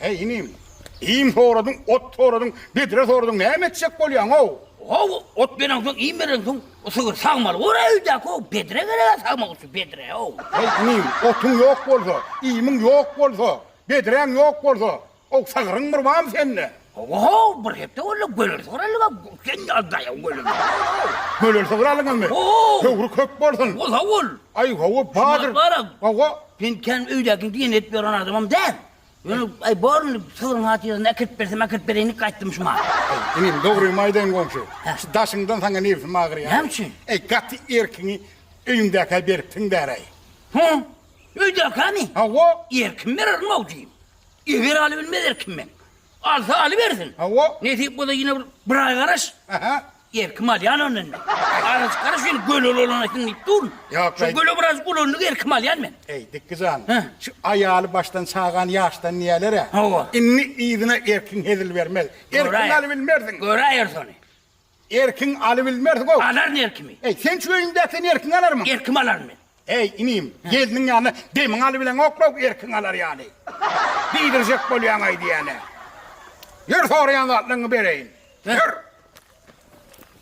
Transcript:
Eý, inim, iým soradyň, ot soradyň, bedre soradyň, näme etjek bolýaň-ow? How, ot bereňsoň, iým bereňsoň, bu sygyr sagmaly bor-a öýdäki-ow, bedre gereg-ä sagmak üçin, bedre-ow. Eý, inim, otuň ýok bolsa, iýmiň ýok bolsa, bedreň ýok bolsa, ow, sygyryň bir barmy sende? How, bir hepde boldy, göler sygyr aldyk-a, sen ýazdaý-ow göler sygyry-ow. Göler sygyr aldyňyzmy? How. Höwri köp bolsun. How-ol, how-ol. Aý, how-o, badyr. Şumat baram. How-o, Men kän öýdäkini diýen edip ýören adamam däl. Ýöne, aý, bor indi, sygyryň hatyrasyna äkirip bersem äkirip bereýinlik gaýtdym şuma. Inim, dogrymy aýdaýyn goňşy, şu daşyňdan saňa nebsim agyrýar. Näme üçin? Äý, gaty erkiňi öýüňdäkä beripsiň däräý. Hä? Öýdäkämi? Hawa. Erkim bererin awjyýym. Eger alybilmez erkim meň. Alsa alybersin. Hawa. Nesip bolsa ýene bir bir aý garaş. Aha. Ýer, kim alýan ony indi? Arajyklary şeýle göle ulanaýsyn diýip durun. Ýok, Şu göle birazjyk ulandyk, ýer, kim alýan men? Eý, Dikgi jan, Hä? şu aýaly başdan çagan ýaşdan diýýäler-ä. Hawa. Indi yzyna erkiň hezil bermez. Erkiň Göräýer. alybilmersiň. Göräýeris ony. Erkiň alybilmersiň-ow. Alaryn erkimi. Eý, sen şu öýüňdäki sen erkiň alarmyň? Ýer, kim alaryn men? Eý, inim, gelniň ýanyna demiň alybileň oklaw erkiň alar ýaly. Diýdirjek bolýaň aýdýan-ä. Ýör, soraýan zatlaryňy bereýin. Ýör!